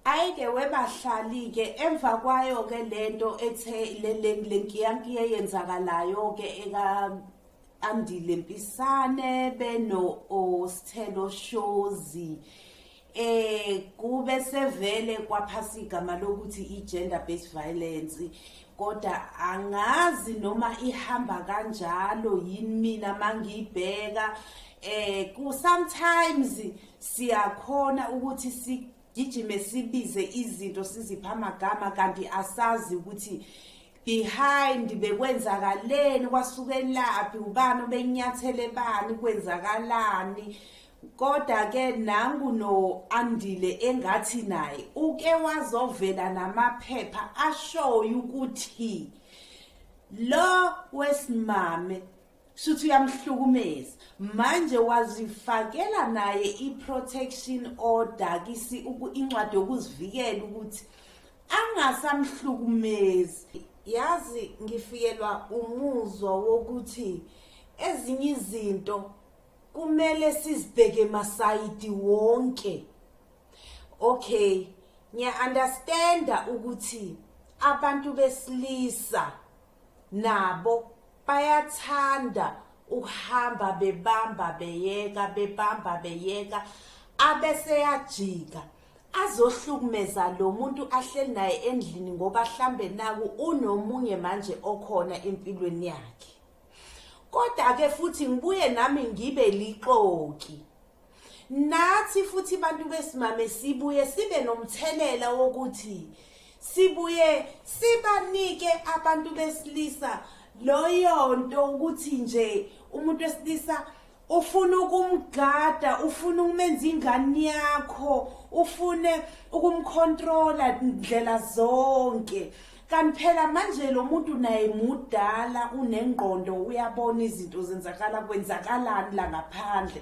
ayike webahlali ke emva kwayo ke lento ethe le lenkiyankiye yenzakalayo ke eka andile mpisane beno osithelo shozi eh kube sevele kwaphasa igama lokuthi i-gender based violence kodwa angazi noma ihamba kanjalo yini mina mangiyibheka eh ku sometimes siyakhona ukuthi sigijime sibize izinto sizipha amagama kanti asazi ukuthi behind bekwenzakaleni kwasukelaphi ubani obenyathele bani kwenzakalani Koda ke nangu no Andile engathi naye uke wazovela namaphepha ashoyo ukuthi lo wesimame shuthi uyamhlukumeza manje wazifakela naye i-protection order kisi incwadi yokuzivikela ukuthi angasamhlukumezi yazi ngifikelwa umuzwa wokuthi ezinye izinto kumele sizibheke masayidi wonke okay ngiya understanda ukuthi abantu besilisa nabo bayathanda ukuhamba bebamba beyeka bebamba beyeka abeseyajika azohlukumeza lo muntu ahleli naye endlini ngoba hlambe naku unomunye manje okhona empilweni yakhe kodwa ke futhi ngibuye nami ngibe lixoki nathi futhi bantu besimame sibuye sibe nomthelela wokuthi sibuye sibanike abantu besilisa loyo nto ukuthi nje umuntu wesilisa ufuna ukumgada ufuna ukumenza ingane yakho ufune ukumcontrola ndlela zonke kanti phela manje lo muntu naye mudala unengqondo uyabona izinto zenzakala kwenzakalani la ngaphandle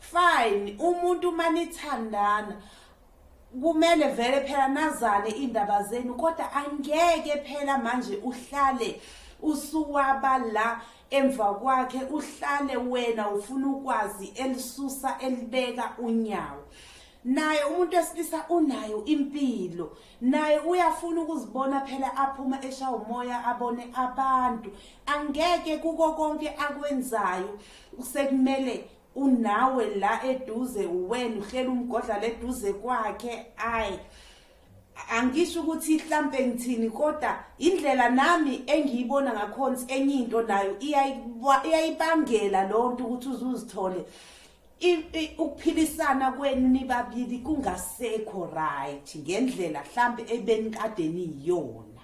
fine umuntu uma nithandana kumele vele phela nazane indaba zenu kodwa angeke phela manje uhlale usuwaba la emva kwakhe uhlale wena ufuna ukwazi elisusa elibeka unyawo naye umuntu wesilisa unayo impilo naye uyafuna ukuzibona phela aphuma esha umoya abone abantu angeke kuko konke akwenzayo sekumele unawe la eduze uwena uhlela umgodla leduze kwakhe ayi angisho ukuthi mhlampe ngithini kodwa indlela nami engiyibona ngakhona enye into nayo iyayibangela lonto ukuthi uzuzithole ukuphilisana kwenu nibabili kungasekho right ngendlela mhlambe ebenikade niyona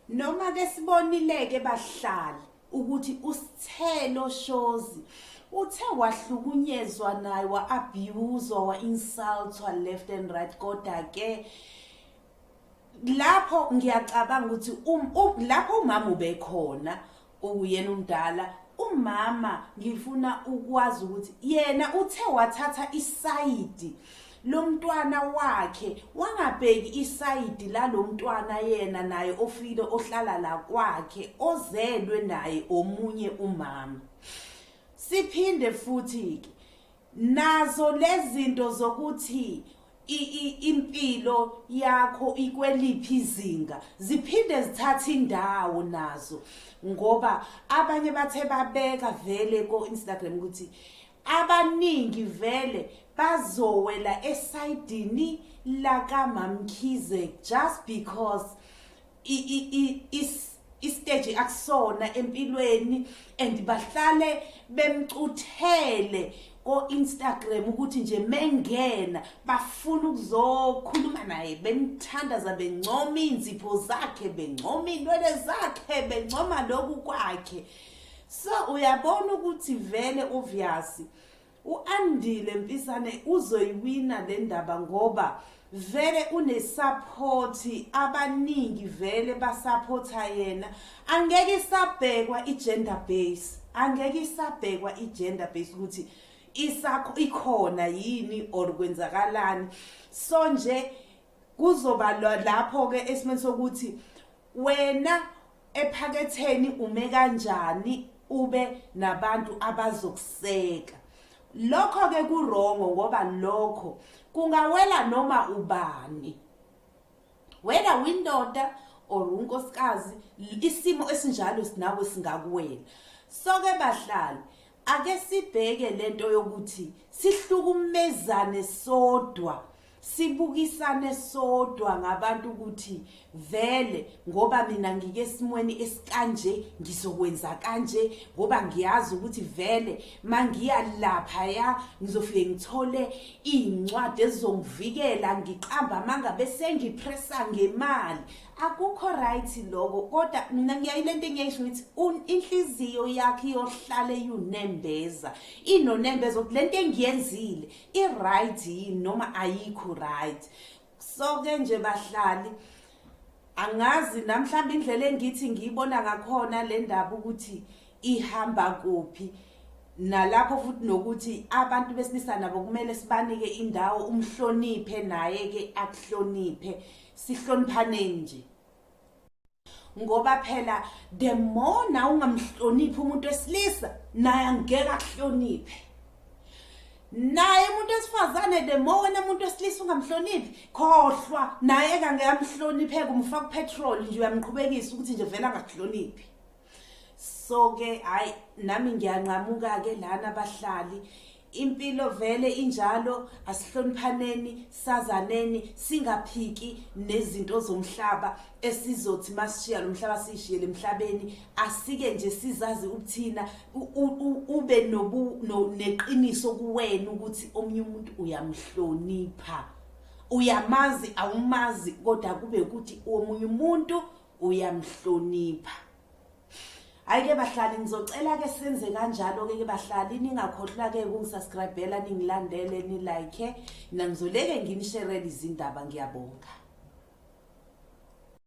Noma ke sibonileke bahlali ukuthi usithelo shozi uthe wahlukunyezwa naye wa-abuswa wa-insultwa left and right kodwa ke lapho ngiyacabanga ukuthi um, um, lapho umama ubekhona Uyena umdala umama ngifuna ukwazi ukuthi yena uthe wathatha isayidi lomntwana wakhe wangabheki isayidi lalomntwana yena naye ofile ohlala la kwakhe ozelwe naye omunye umama siphinde futhi ke nazo lezinto zokuthi impilo yakho ikweliphi izinga ziphinde zithathe indawo nazo ngoba abanye bathe babeka vele ko-instagram ukuthi abaningi vele bazowela esayidini lakamamkhize just because istage akusona empilweni and bahlale bemcuthele ko-instagram ukuthi nje mengena bafuna ukuzokhuluma naye bemthandaza bencoma iy'nzipho zakhe bencoma iy'nwele zakhe bencoma lokhu kwakhe so uyabona ukuthi vele uvyasi U-Andile Mpisane uzoyiwina le ndaba ngoba vele unesaphothi abaningi vele basaphotha yena angeke isabhekwa i-gender base angeke isabhekwa i-gender base ukuthi isakho ikhona yini or kwenzakalani so nje kuzoba lapho ke esimeni sokuthi wena ephaketheni ume kanjani ube nabantu abazokuseka lokho ke kurongo ngoba lokho kungawela noma ubani whether windoda or unkosikazi isimo esinjalo sinawe singakuwela so ke bahlali ake sibheke lento yokuthi sihlukumezane sodwa sibukisane sodwa ngabantu ukuthi vele ngoba mina ngike esimweni esikanje ngizokwenza kanje ngoba ngiyazi ukuthi vele mangiya lapha ya ngizofike ngithole incwadi ezongivikela ngiqamba manga bese ngipressa ngemali akukho right lokho kodwa mina ngiyayilento engiyisho ngithi inhliziyo yakhe iyohlale yunembeza inonembeza ukuthi lento engiyenzile i-right yini noma ayikho right so ke nje bahlali angazi namhlawumbe indlela engithi ngiyibona ngakhona le ndaba ukuthi ihamba kuphi nalapho futhi nokuthi abantu besilisa nabo kumele sibanike indawo umhloniphe naye ke akuhloniphe sihloniphaneni nje ngoba phela the more na ungamhloniphi umuntu wesilisa naye angeke akuhloniphe naye umuntu esifazane the more wena umuntu wesilisa ungamhloniphi khohlwa naye kangeke amhloniphe kumfaka upetrol nje uyamqhubekisa ukuthi nje vele angakuhloniphi so ke hayi nami ngiyanqamuka ke lana abahlali Impilo vele injalo asihloniphaneni sazaneni singaphiki nezinto zomhlaba esizothi masishiya lomhlaba sishiye lemhlabeni asike nje sizazi ukuthina ube nobu neqiniso kuwena ukuthi omunye umuntu uyamhlonipha uyamazi awumazi kodwa kube ukuthi omunye umuntu uyamhlonipha Hayi ke bahlali ngizocela ke senze kanjalo ke ke bahlali ningakhohlwa ke ukungisubscribela ningilandele ni like nangizoleke nginisherele izindaba ngiyabonga